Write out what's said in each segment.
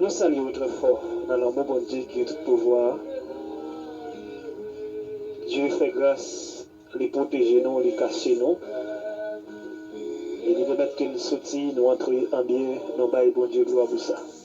Nou salye ou trè fò nan lanmou Bondye ki gen tout pouvwa a. Dye fè gras, li pwoteje nou, li kache nou, e li pèmèt ke n soti, nou antre anbyen, nou bay Bondye glwa pou sa.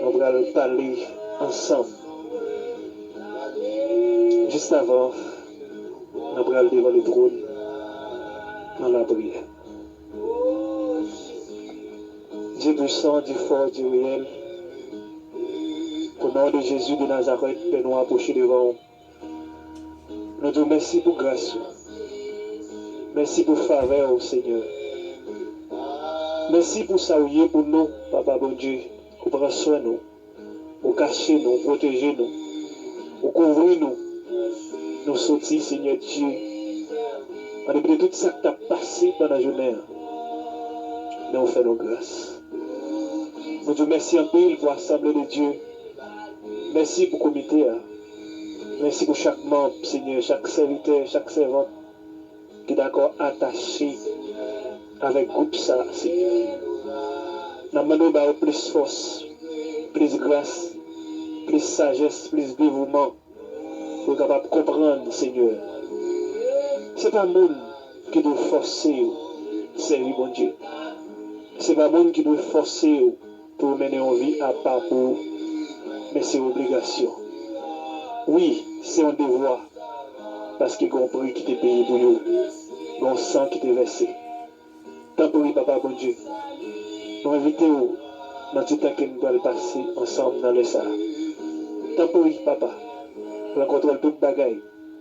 Nou pral pale ansanm. Jistavan nan pral devan letwon nan lapriyè. Dye pwisan, Dye fò, Dye reyèl, o non de Jezi de Nazarèt, Pè nou apwoche devan ou. Nou di w mèsi pou gras ou. Mèsi pou favè w Senyè. Mèsi pou sa ou ye pou nou papa Bondye ou pran swen nou ou kache nou ou pwoteje nou ou kouvri nou nou soti Senyè Dye andepi de tout sak tap pase pandan jounen an men ou fè nou gras nou di w mèsi anpil pou asanble de Dye Mèsi pou komite a. Mèsi pou chak manb, Senyè, chak sèvitè, chak sèvant ki dakò atache avèk gwoup sa, Senyè. N ap mande w ba yo plis fòs, plis gras, plis sajès, plis devouman pou yo kapab konprann, Senyè, se pa moun ki dwe fòse yo sèvi Bondye. Se pa moun ki dwe fòse yo. Pou mennen yon vi apa pou ou. Men se obligasyon. Wi, se yon devwa. Paske gen yon pri ki te peye pou yo. Gen yon san ki te vèse. Tanpri, Papa Bondye, nou envite ou nan ti tan ke n pral pase ansanm nan lè sa a. Tanpri, Papa, pran kontwòl tout bagay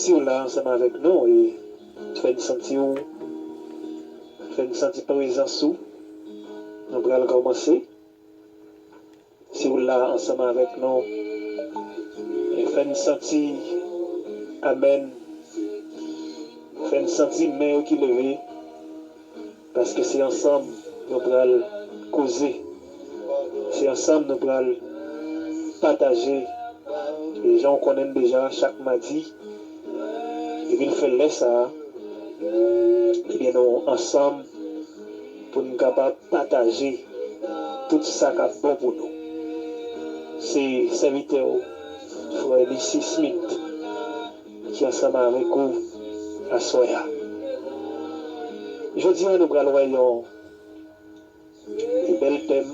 Siw la ansanm avèk nou e fè n santi w fè n santi prezans ou nou pral kòmanse siw la ansanm avèk nou e fè n santi amèn fè n santi men yo ki leve. Paske se ansanm nou pral koze, se ansanm nou pral pataje jan w konnen n deja chak madi depi l fè lè sa a ebyen nou ansanm pou n kapab pataje tout sa k ap bon pou nou. Se sèvitè w frè Missy Smith. Li di ansanm avèk ou aswè a. Jodi a nou pral wè yon bèl tèm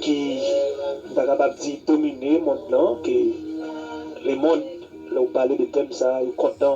ki m ta kapab di domine mond lan ke lemond lè ou pale de tèm sa yo kontan.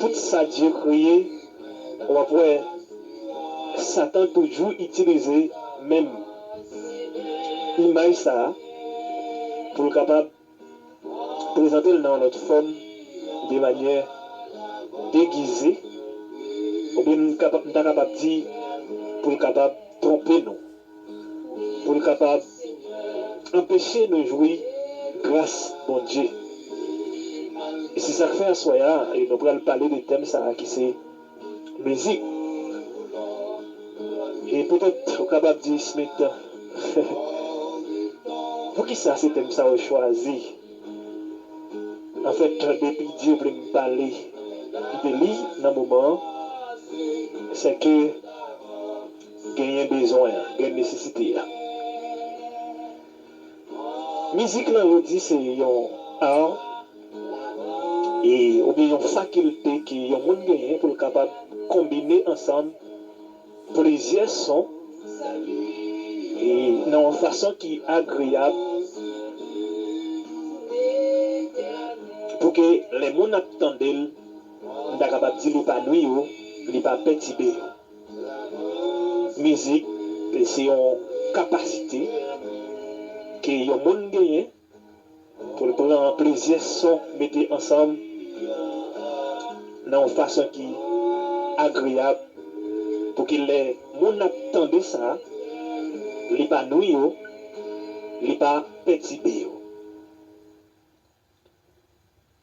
Tout sa Dye kreye, w ap wè Satan toujou itilize menm imaj sa a pou l kapab prezante l nan yon lòt fòm, de manyè degize, oubyen m ta kapab di pou l kapab twonpe nou. pou l kapab anpeche nou jwi gras Bondye. E se sa k fè aswè a nou pral pale de tèm sa a ki se mizik. E petèt ou kapab di, Smith, poukisa se tèm sa ou chwazi? Anfèt, depi Dye vle m pale de li nan moman an, sèke, Genyen bezwen an, gen nesesite a. Mizik lan yo di se yon art e oubyen yon fakilte ke yon moun genyen pou l kapab konbine ansanm plizyè son e nan yon fason ki agreyab pou ke lè moun ap tande l, m ta kapab di l epanwi yo, li pa pètibe yo. Mizik se yon kapasite ke yon moun genyen pou l pran plizyè son mete ansanm nan yon fason ki agreyab pou ke lè moun ap tande sa, li pa nwi yo, li pa pètibe yo.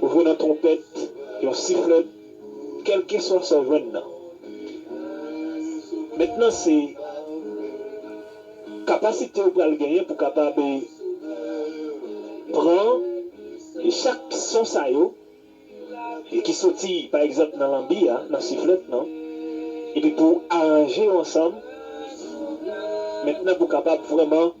Ou jwenn yon twonpèt, yon siflèt, kèlkeswa sa w jwenn nan. Mentnan se kapasite ou pral genyen pou kapab pran chak son sa yo ki soti pa egzanp nan lanbi a, nan siflèt nan, epi pou w aranje yo ansanm mentnan pou w kapab vrèman.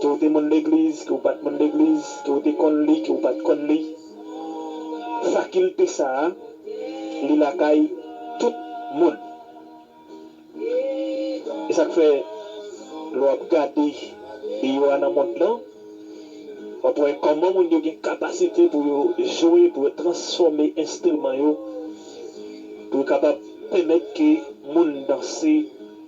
Ke ou te moun legliz, ke ou pat moun legliz, ke ou te konn li, ke ou pat konn li, fakilte sa a, li lakay tout moun. E sa k fè, lè w ap gade deyò a nan mond lan, w ap wè kòman moun yo gen kapasite pou yo jwe, pou yo transfòme enstriman yo, pou yo kapab pèmèt ke moun danse.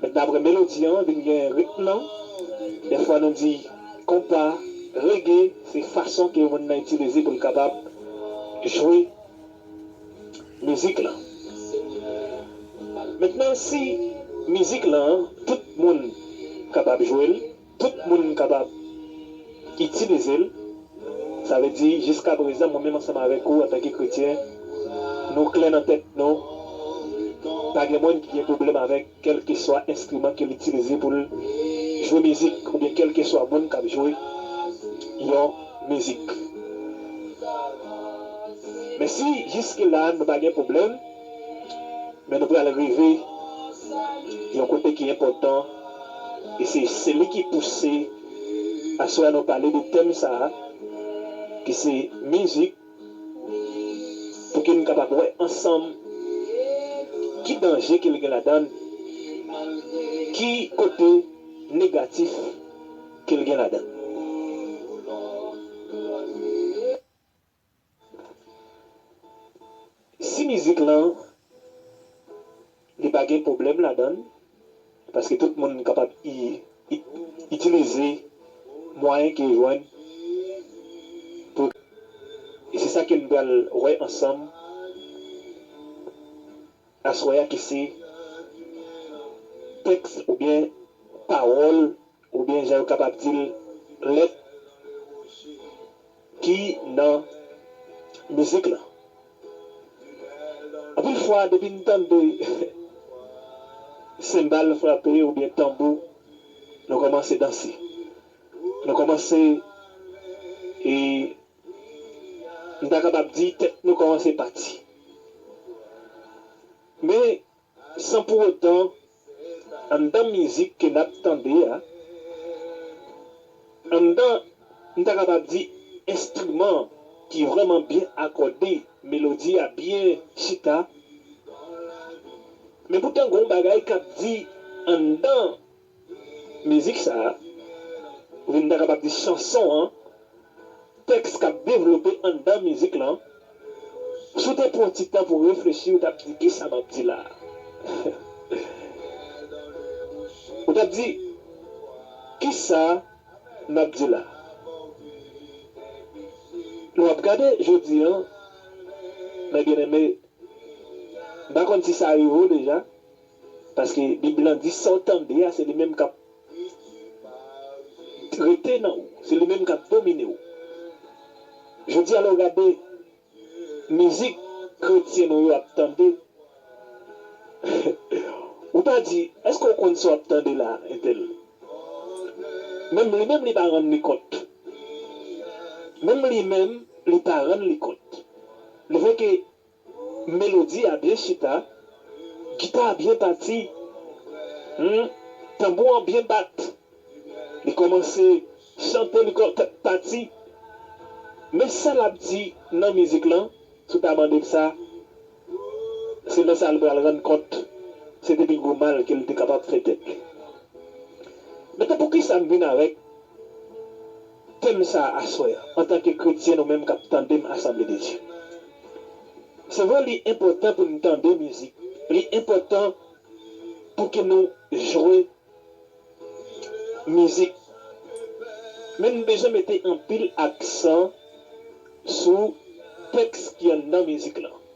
Mètnan apre melodi an vin gen ritm nan, dèfwa nou di konpa, rege, se fason ke moun nan itilize pou l kapab jwe mizik lan. Mètnan si mizik lan tout moun kapab jwe l. Tout moun kapab itilize l. Sa vle di, jiskaprezan, mwen menm ansanm avèk ou, antanke kretyen, nou klè nan tèt nou, pa gen moun ki gen pwoblèm avèk kèlkeswa enstriman ke l itilize pou l jwe mizik oubyen kèlkeswa moun k ap jwe yon mizik. Men si jiskela nou pa gen pwoblèm, Men nou pral rive yon kote ki enpòtan e se se li ki pouse aswè a nou pale de tèm sa a ki se mizik pou ke n kapab wè ansanm ki danje ke li gen ladan l, ki kote negatif ke li gen ladan l. Si mizik lan li pa gen pwoblèm ladan l, paske tout moun kapab itilize mwayen ke yo jwenn pou yo e se sa ke n pral wè ansanm aswè a ki se tèks oubyen pawòl Oubyen jan yo kapab di l lèt ki nan mizik lan. Anpil fwa depi n tande senbal frape oubyen tanbou nou kòmanse danse. Nou kòmanse e m ta kapab di tèt nou kòmanse pati. Men. San pou otan, anndan mizik ke n ap tande a, anndan, m ta kapab di, enstriman ki vrèman byen akòde, melodi a byen chita, men poutan gen yon bagay k ap di anndan. Mizik sa a, oubyen m ta kapab di chanson an, tèks k ap devlope anndan mizik lan, si w te pran ti tan pou w reflechi ou t ap di kisa m ap di la a? Ou t ap di kisa m ap di la a? Lè w ap gade jodi an, mè byeneme, m pa konn si sa rive w deja, Paske bib lan di sa w tande a se li menm kap rete nan ou, se li menm kap domine w. Jodi a lè w gade mizik kretyen nou yo ap tande ou ta di eske w konn sa w ap tande la entèl. Menm li menm li pa rann li kont. Menm li menm li pa rann li kont. Li fè ke. Melodi a byen chita, gita a byen pati, humm tanbou an byen bat, li kòmanse chante li kò tèt pati men sa lap di nan mizik lan si w ta mande l sa se lè sa li pral rann kont se te pi gwo mal ke li te kapab fè tèt li men tan poukisa m vin avèk Tèm sa a aswè an, antanke kretyen nou menm k ap tande m asanble de Dye. Se vre li enpòtan pou n tande mizik, li enpòtan pou ke nou jwe mizik, men n bezwen mete anpil aksan sou tèks ki anndan mizik lan.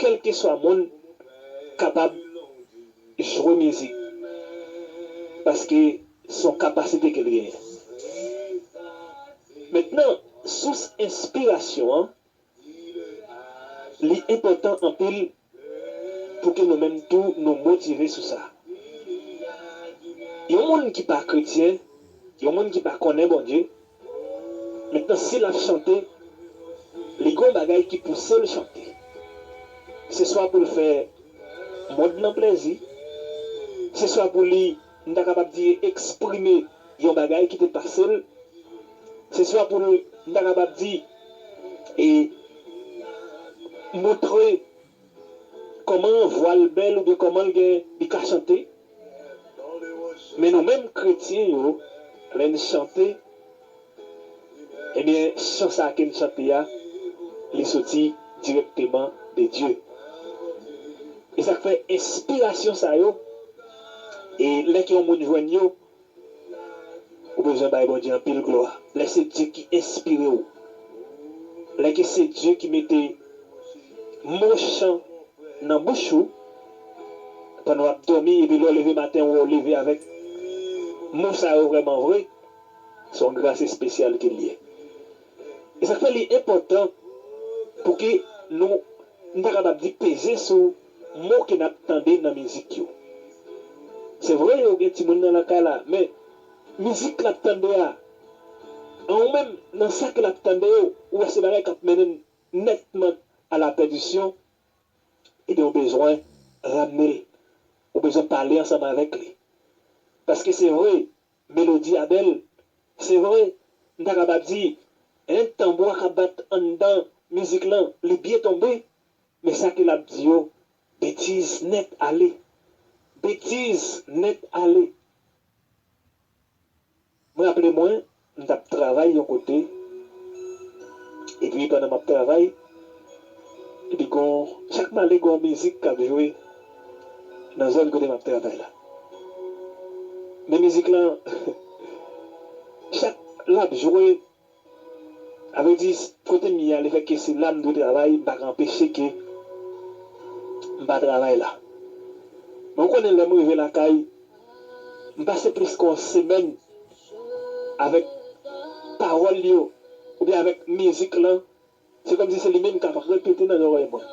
Kelkeswa moun kapab jwe mizik paske son kapasite kel genyen. Mentnan sous enspirasyon an li enpotan anpil pou ke nou menm tou nou motive sou sa. Yon moun ki pa kretyen, yon moun ki pa konnen Bondye, Mentnan si lap chante li gon bagay ki pousel chante se swa poul fè mond lan plèzi se swa pou li m ta kapab di eksprime yon bagay ki te pasel se swa pou l m ta kapab di e moutre Kòman vwal bèl oubyen kòman l gen li ka chante men nou menm kretyen yo lè n chante ebyen chan sa ke n chante a li soti dirèkteman de Dye e sa k fè enspirasyon sa yo e lè ke yon moun jwenn yo Ou bezwen bay Bondye anpil glwa lè se Dye ki enspire w, lè ke se Dye ki mete mo chan nan bouch ou pandan w ap dòmi epi lè w leve maten ou wè w leve avèk mo sa yo vrèman vre, se yon gras espesyal ke l ye. E sa k fè li enpòtan pou ke nou, m ta kapab di peze sou Mo ke nap tande nan mizik yo. Se vre yo gen timoun nan lakay la men mizik lap tande a an ou menm nan sa ke lap tande yo ou wè se bagay kap mennen nètman a la pèdisyon ebyen ou bezwen ramne l ou bezwen pale ansanm avèk li paske se vre melodi a bèl se vre m ta kapab di tanbou a kap bat anndan mizik lan li byen tonbe Men sa ke lap di yo betiz net ale betiz net ale. M raple mwen m tap travay yon kote epi pandan map travay epi gon chak m ale gon mizik kap jwe nan zòn kote map travay la men mizik lan chak lap jwe A vre di, kote m ye a, lefèt ke se la m dwe travay, m pa ka anpeche ke m pa travay la. Men ou konnen lè m rive lakay, m pase plis ke yon semèn avèk pawòl yo oubyen avèk mizik lan Se kòmsi se li menm k ap repete nan lòrèy mwen.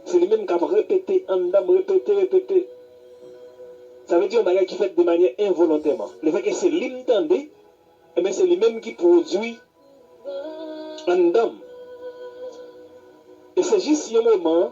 Se li menm k ap repete anndan m, repete, repete. Sa vle di yon bagay ki fèt de manyè envolontèman. Lefètke se li m tande, enben se li menm ki pwodui anndan m. E se jis yon moman.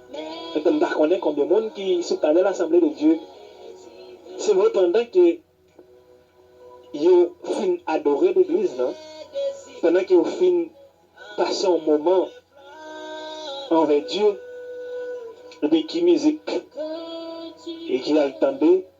Epi m pa konnen konbyen moun ki sou panèl Asanble de Dye se vre pandan ke yo fin adore legliz nan, pandan ke yo fin pase yon moman anvè Dye, epi ki mizik ki al tande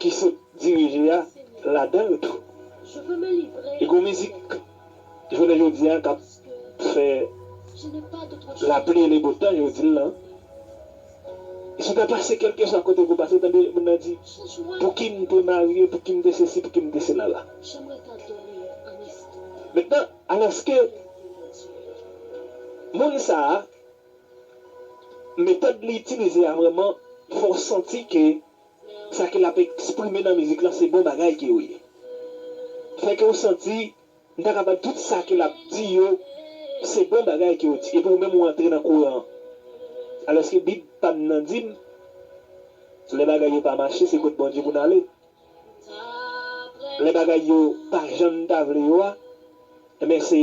ki sot dirije a ladan l tou. E gon mizik jounen jodi a k ap fè lapli e lebotan yo di l lan. Si w ta pase kèlkeswa kote pou w pase w tande moun nan di pouki m te marye, pouki m te sesi, pouki m te sela la. Mentnan alòske moun sa a metòd li itilize a vrèman fè w santi ke sa ke lap eksprime nan mizik lan se bon bagay ke yo ye. Fè ke ou santi m ta kapab tout sa ke lap di yo se bon bagay ke yo di epi ou menm ou antre nan kouran an. Alòske bib pa m nan di m lè bagay yo pa mache se kot Bondye pou n ale. Lè bagay yo pa jan n ta vle yo a, enben se.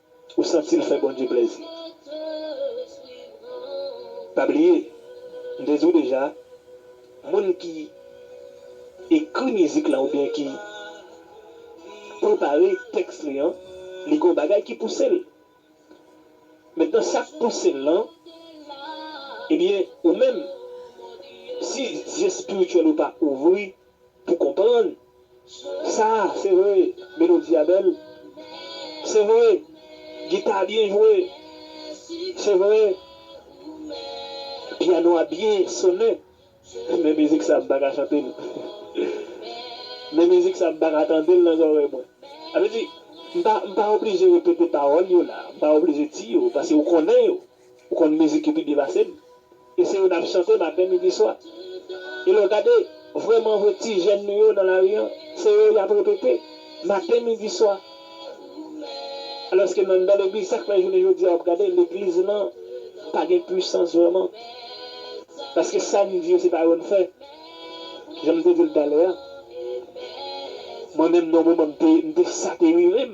Ou santi l fè Bondye plèzi. Pa bliye, m te di w deja, moun ki ekri mizik lan oubyen ki prepare tèks li an, li gen yon bagay ki pouse l. Mentnan sa k pouse l lan, ebyen ou menm, si zye espirityèl ou pa ouvri, Pou konprann sa se vre melodi a bèl se vre gita a byen jwe se vre piano a byen sonnen men mizik sa m pa ka chante l men mizik sa m pa ka tande l nan zòrèy mwen sa vle di m pa oblije repete pawòl yo la m pa oblije di yo paske ou konnen yo Ou konn mizik ki pi byen pase m e se yo nap chante maten midi swa. E lè w gade vrèman vre ti jèn nou yo nan lari an se yo yap repete maten midi swa. Alòske nan legliz sak fè jounen jodi a wap gade legliz lan pa gen pwisans vrèman. Paske sa n di yo se pa yo n fè. Jan m te di l talè a mwen menm nan yon moman m te sa te rive m.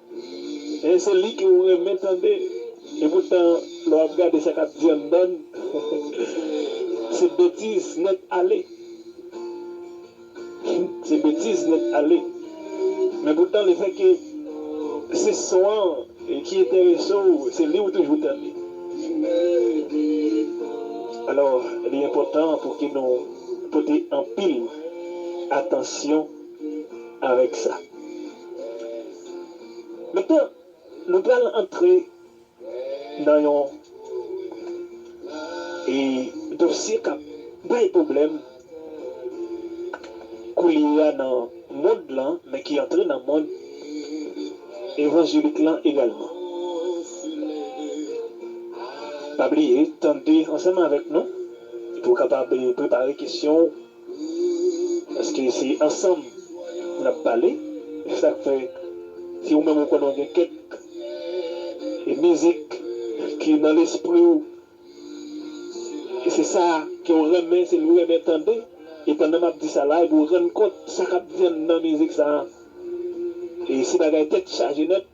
E se li ke ou renmen tande. E poutan lè w ap gade sa k ap di anndan n, se betiz nèt ale. Se betiz nèt ale. Men poutan le fè ke se son an ki enterese w, se li ou toujou tande. Alò, li enpòtan pou ke nou pote anpil atansyon avèk sa. Maintenant, nou pral antre nan yon dosye kap bay pwoblèm koulye a nan mond lan, men ki antre nan mond evanjelik lan egalman. Pa bliye tande ansanm avèk nou pou w kapab prepare kesyon w. Paske se ansanm nap pale se sak fè si ou menm ou konnen ou gen kèk mizik ki nan lespri ou e se sa ke ou renmen se li ou renmen tande e pandan map di sa la epi ou rann kont sa kap di anndan mizik sa e se bagay tèt chaje nèt.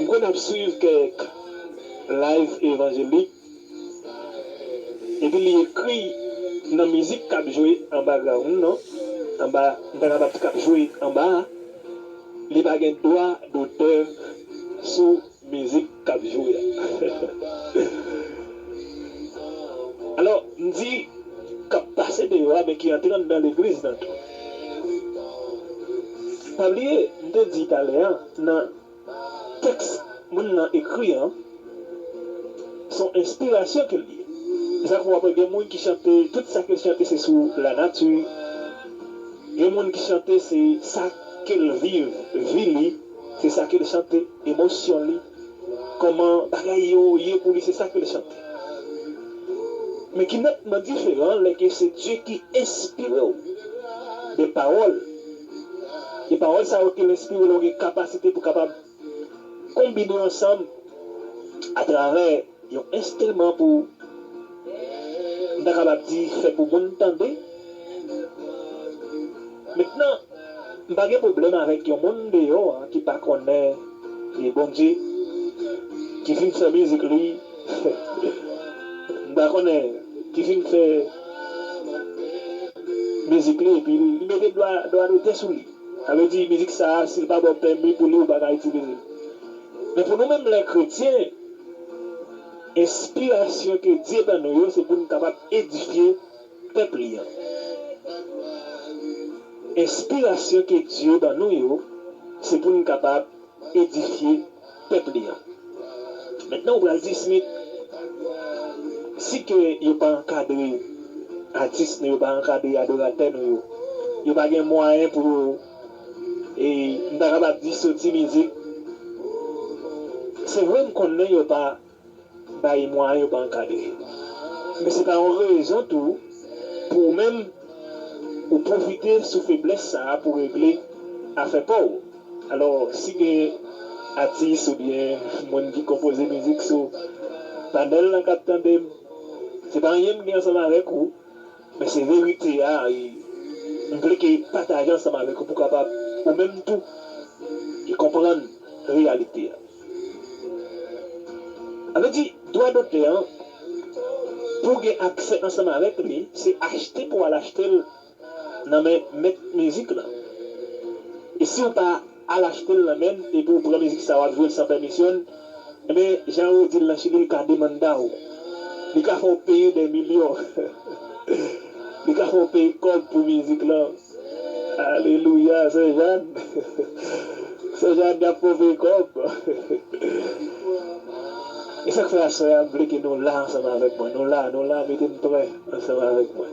M konn ap swiv kèk live evanjelik epi li ekri nan mizik kap jwe an background nan anba m ta kapab di kap jwe anba a li pa gen dwa dotè sou mizik kap jwe a alò m di kap pase deyò a men ki antre anndan legliz nan tou. Pa bliye, m te di talè a, nan tèks moun nan ekri an, s on enspirasyon ke l ye. Se sa k fè w ap wè gen moun ki chante, tout sa ke l chante se sou lanati, gen moun ki chante se sa ke l viv, vi li, se sa ke l chante, emosyon li. Koman bagay yo ye pou li se sak fè li chante men ki netman diferan lè ke se Dye ki enspirew de pawòl e pawòl sa yo kel enspire la ou gen kapasite pou kapab konbine ansanm atravè Yon enstriman pou, m ta kapab di, fè pou moun tande. Mentnan, m pa gen pwoblèm avèk yon moun deyò a ki pa konnen li Bondye, ki fin fè mizik li, m pa konnen, ki fin fè mizik li epi li mete dwa dotè sou li. Sa vle di, mizik sa a, si l pa ba w pèmi pou li, ou pa ka itilize l. Men pou nou menm lè kretyen. Enspirasyon ke Dye ban nou yo se pou n kapab edifye pèp li an. Enspirasyon ke Dye ban nou yo se pou n kapab edifye pèp li an. Mentnan ou pral di, Smith, si ke yo pa ankadre atis nou yo, pa ankadre adoratè nou yo, yo pa gen mwayen pou yo. E m ta kapab di sou ti mizik, se vre m konnen yo pa bay mwayen, yo pa ankadre. Men se pa yon rezon tou pou ou menm ou pwofite sou feblès sa a pou w regle afè pa w. Alò, si gen atis oubyen moun ki konpoze mizik sou panèl lan k ap tande m, se pa anyen m gen ansanm avèk ou. Men se verite a e m vle ke pataje ansanm avèk ou pou kapab ou menm tou e konprann reyalite a. A vle di dwa dotè an pou w gen aksè ansanm avèk li se achte pou w al achte l nan men mèt mizik lan. E si w pa. Al achtel nan menn epi ou pran mizik sa wap jwel san pèmisyonl enben jan yo dil nan chili li ka demandaw li ka fèw peye dè milyon li ka fèw peye kòb pou mizik lan alelouya sè Jeanne sè Jeanne yap fèw peye kòb esak fè aswè a m vle ke nou la ansanm avèk mwen nou la nou la metem prè ansanm avèk mwen.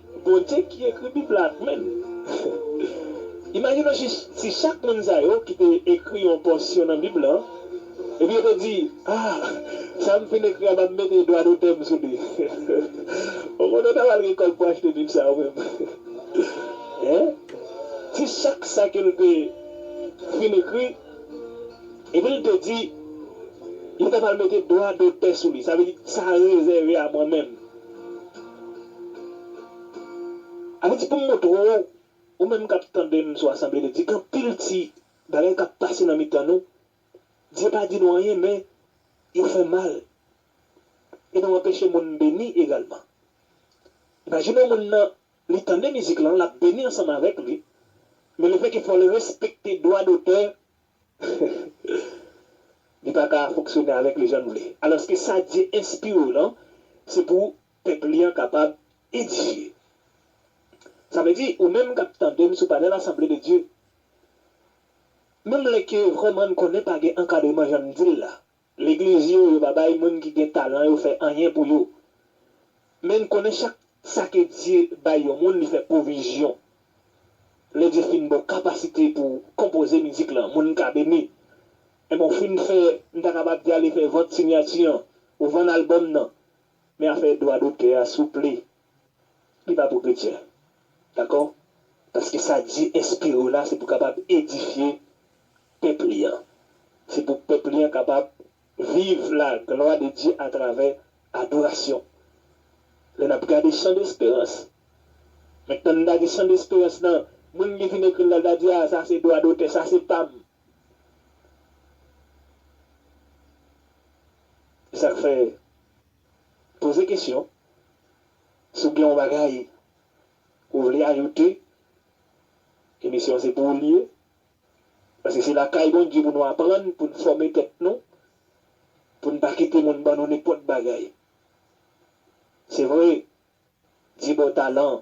Bondye ki ekri bib la menm. Imajinon jis si chak moun sa yo ki te ekri yon pòsyon nan bib lan epi yo te di ah sa m fin ekri a map mete dwa dotè m sou li ou konnen ou ta pral gen kòb pou achte bib sa ou menm hein si chak sa ke l te fin ekri epi l te di yo ta pral mete dwa dotè sou li sa vle di sa rezève a mwen menm. Avèti pou m montre w, ou menm k ap tande m sou asanble de Dye, gen anpil ti bagay k ap pase nan mitan nou, Dye pa di nou anyen men yo fè mal e nou anpeche moun beni egalman. Imajine w moun nan li tande mizik lan, l ap beni ansanm avèk li men lefètke fò l respekte dwa dotè Li pa ka fonksyone avèk li jan n vle. Alòske sa Dye enspire w lan, se pou pèp li an kapab edifye. Sa vle di, ou menm k ap tande m sou panèl Asanble de Dye, menm lè ke vrèman n konnen pa gen ankadreman jan n di l la, Legliz yo, yo pa bay moun ki gen talan yo fè anyen pou yo. Men n konnen chak sa ke Dye bay yon moun li fè pwovizyon. Lè Dye fin ba w kapasite pou konpoze mizik lan, moun ka beni. Enben w fin fè, m ta kapab di ale fè vant sinyati an, ou vann albòm nan. Men afè dwa dotè a souple, Li pa pou kretyen. Dakò? Paske sa Dye enspire w la se pou kapab edifye pèp li an. Se pou pèp li an kapab viv laglwa de Dye atravè adorasyon. Lè n ap gade Chan Desperans, mèt nan li ta di Chan Desperans nan, moun ki fin ekri l la ta di, a sa se dwa dotè, sa se pa m. E sa k fè, poze kesyon. Si w gen yon bagay ou vle ajoute, emisyon an se pou ou l ye. Paske se lakay Bondye pou nou aprann, pou n fòme tèt nou, pou n pa kite moun ban nou nenpòt bagay. Se vre, di bò talan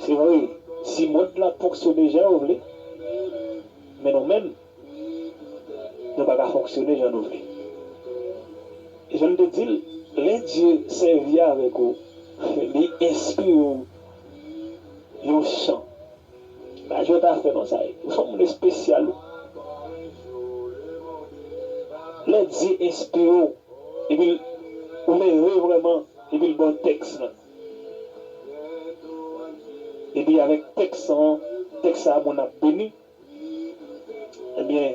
Se vre, si mond lan fonksyone jan yo vle, men nou menm, nou pa ka fonksyone jan nou vle. E jan m te di l, lè Dye sèvi avèk ou, li enspire w yon chan, pa jwèt afè non sa ye. Ou son moun espesyal wi. Lè Dye enspire w epi l ou nève vrèman epi l ba w tèks lan. Epi avèk tèks an, tèks sa moun ap beni, ebyen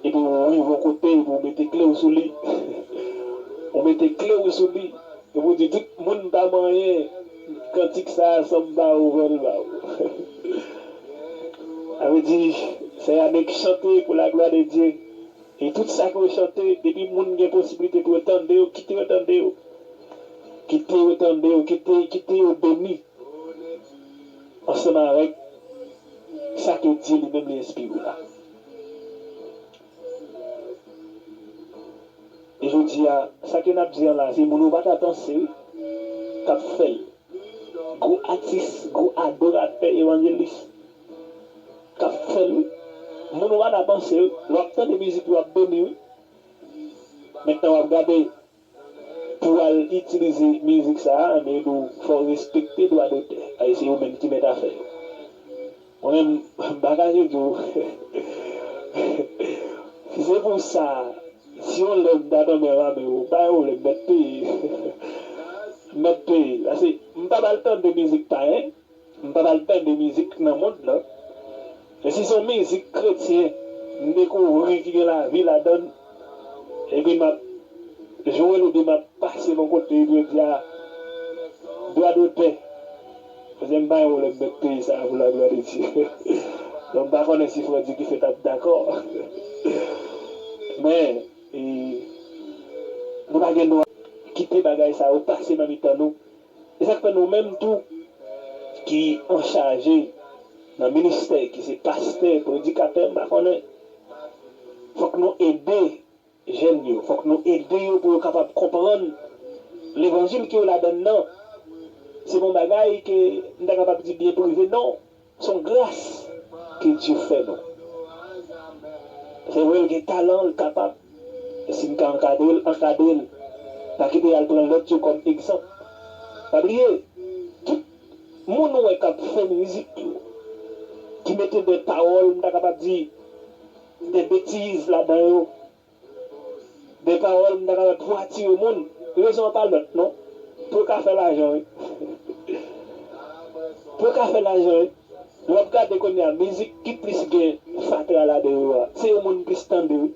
epi ou rive yon kote epi ou mete kle ou sou li, ou mete kle ou sou li epi ou di tout moun pa manyen kantik sa san m pa ouvè l ba ou. Sa vle di se annik chante pou laglwa de Dye. E tout sa ke yo chante depi moun gen posibilite pou yo tande yo kite yo tande yo kite yo tande yo kite kite yo beni ansanm avèk sa ke Dye li menm li enspire la. E jodi a sa ke nap di an la se moun ou pa ta panse wi kap fèl gwo atis gwo adoratè evanjelis kap fèl wi moun ou pa ka pansel lè wap tande mizik li wap beni wi mentnan wap gade pouw al itilize mizik sa ann yo diw fòw respekte dwa dotè a e se yo menm ki mèt afè yo mwen menm mpa kache diw si se pou sa si yon lè mta tonbe anba men yo pa gen pwoblèm mèt peye mèt peye pase mpa pral tande mizik payen M pat al tande mizik nan mond lan, men si son mizik kretyen m dekouvri ki gen lavi ladann epi map jwel epi map pase bon kote epi yo di a dwa dotè kouzin m pa gen pwoblèm met peyi sa a pou la glwa de Dye bon m pa konnen si frè Dikife tap dakò men nou pa gen dwa kite bagay sa yo pase nan mitan nou E sa k fè nou menm tou ki anchaje nan ministè, ki se pastè, predikatè, m pa konnen, fòk nou ede jèn yo, fòk nou ede yo pou yo kapab konprann levanjil ke yo ladann nan se pa yon bagay ke m ta kapab di byen prive non. Son gras ke Dye fè nou. Se vre l gen talan l kapab men si n ka ankadre l ankadre l pa kite yal pran lòt yo kòm egzanp pa bliye tout Moun ou wè kap fè mizik yo ki mete de pawòl m ta kapab di de betiz ladan yo Bèl pawòl m ta kapab di wa tire moun rezon an pa lòt non pou yo ka fè lajan wi pou yo ka fè lajan wi wap gade kounya mizik ki plis gen fatra ladan yo a se yo moun plis tande wi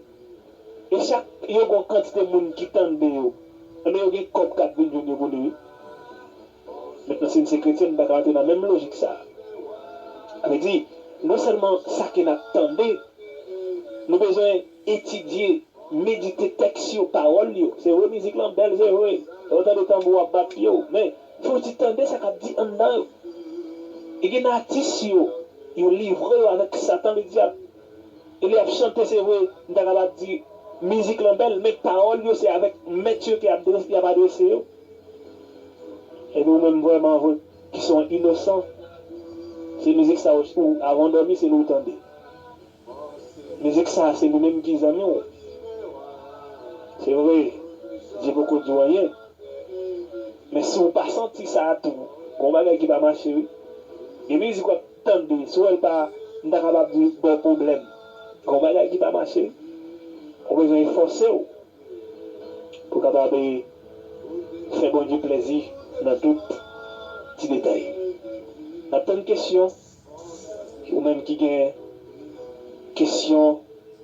e chak yo gon kantite moun ki tande yo enben yo gen kòb kap vin jwenn yo pou li wi Mentnan si n se kretyen n pa ka antre nan menm lojik sa a. A vle di, non sèlman sa ke n ap tande, nou bezwen etidye, medite tèks yo, pawòl yo. Se vre mizik lan bèl se vre, lè w tande tanbou ap bat pye w, men fò w ti tande sa k ap di anndan yo. E gen nan atis yo, yo livre yo avèk satan le dyab. E lè y ap chante se vre, m ta kapab di mizik lan bèl, men pawòl yo se avèk mèt yo ke y ap adrese yo. Epi ou menm vrèman vre ki son inosan se mizik sa ou avan ou dòmi se li ou tande mizik sa se li menm ki zanmi ou se vre Dye poko di ou anyen men si ou pa santi sa tou gon bagay ki pa mache wi gen mizik wap tande si ou wèl pa m ta kapab di baw pwoblèm gon bagay ki pa mache ou bezwen efòse ou. pou kapab fè Bondye plèzi nan tout ti detay. Nap tann kesyon ou menm ki gen kesyon,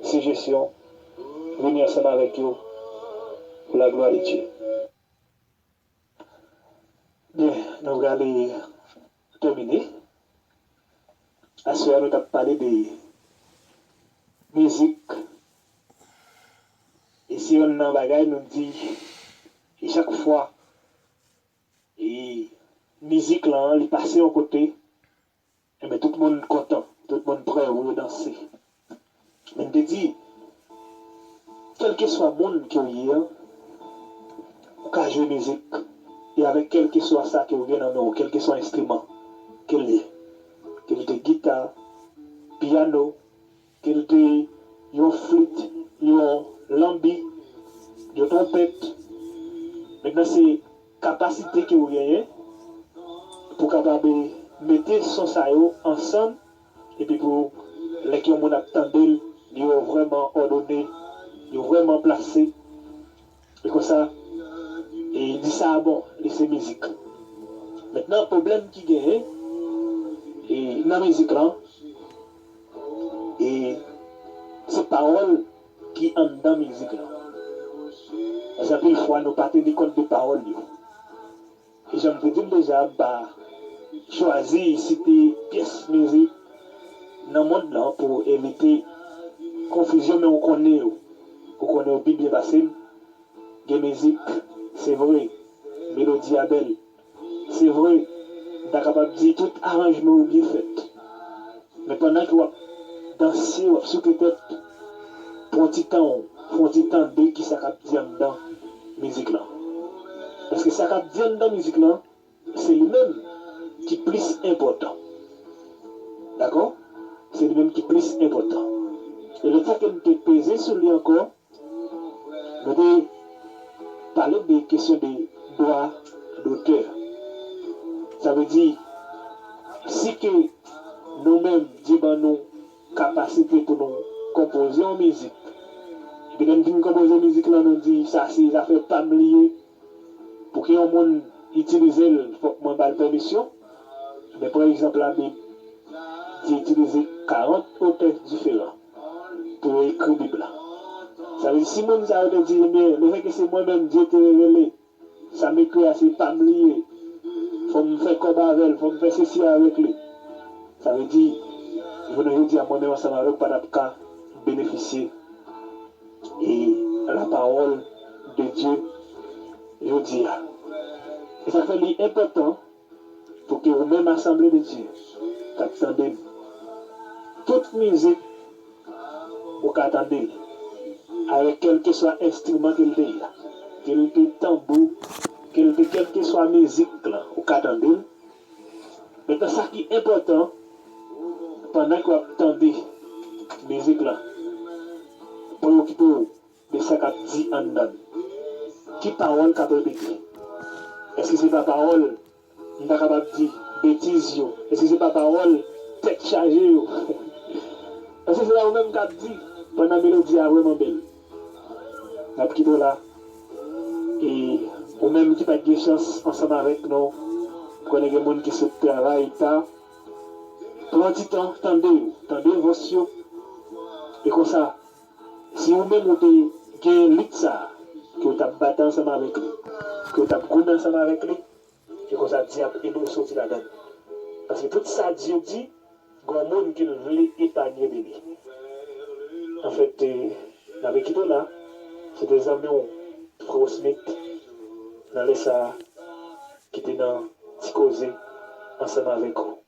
sijesyon vini ansanm avèk yo pou la glwa de Dye. Byen nou prale tèmine. Aswè a nou tap pale de mizik e se yonn nan bagay nou di e chak fwa e mizik lan li pase yon kote. Enben tout moun kontan, tout moun prè pou yo danse. Men m te di, Kèlkeswa moun ke w ye an, ou ka jwe mizik e avèk kèlkeswa sa ke ou gen nan men w, kèlkeswa enstriman ke l ye, ke li te gita, piyano, Kelte, yon flit, yon lanbi, yon twonpèt, mentnan se kapasite ke ou genyen pou kapab mete son sa yo ansanm epi pou lè ke yon moun ap tande l, yo vrèman òdone, yo vrèman plase E konsa e di sa a bon li se mizik. Mentnan pwoblèm ki genyen e nan mizik lan e se pawòl ki anndan mizik lan. Paske anpil fwa nou pa teni kont de pawòl yo. Jan m te di l deja, m pa chwazi site pyès mizik nan mond lan pou evite konfizyon men ou konnen yo. Ou konnen yo pi byen pase m. Gen mizik, se vre, melodi a bèl. Se vre, m ta kapab di tout aranjman yo byen fèt. Men pandan ke wap danse, wap souke tèt, pran yon ti tan'w, fè yon ti tande kisa kap di anndan mizik lan. Paske sa kap di anndan mizik lan, se li menm ki plis enpòtan. Dakò? Se li menm ki plis enpòtan. E lòt sa ke m'te peze sou li ankò, Mwen te pale de kesyon de dwa dotè. Sa vle di, si ke nou menm Dye ban nou kapasite pou nou konpoze yon mizik, epi lè n fin konpoze mizik lan nou di sa se zafè pa m li ye, Pouki yon moun itilize l fòk mwen ba l pèmisyon? Men pran egzanp Labib. Dye itilize karant otè diferan pou yo ekri Bib la. Sa vle di si moun sa yo te di, Ebyen, lefètke se mwen menm Dye te revele, sa m ekri a se pa m li ye, fò m fè kòb avè l, fò m fè sesi avèk li, sa vle di jounen jodi a mwen menm ansanm avè w pa t ap ka benefisye E la pawòl de Dye jodi a. E sa k fè li enpòtan pou ke ou menm asanble de Dye k ap tande m, tout mizik ou ka tande l avèk kèlkeswa enstriman ke l te ye, ke l te tanbou, ke l te kèlkeswa mizik lan ou ka tande l. Maintenant sa ki enpòtan pandan ke wap tande mizik lan preokipe w de sa kap di anndan l. Ki pawòl kap repete? Eske se pa pawòl m ta kapab di betiz yo? Eske se pa pawòl tèt chaje yo? Eske se pa ou menm kap di pandan melodi a vrèman bèl? Nap kite w la e ou menm ki pat gen chans ansanm avèk nou konnen gen moun ki sot travay ta pran ti tan tande yo tande vòs yo e konsa si ou menm ou te gen lit sa ke ou tap batay ansanm avèk li ke ou tap goumen ansanm avèk li. Se konsa Dye ap ede w soti ladan l. Paske tout sa Dye di, gon moun ke l vle epanye de li. Anfèt, m ape kite w la. Se te zanmi w Freo Smith, nan lè sa a, ki te nan ti koze ansanm avèk ou.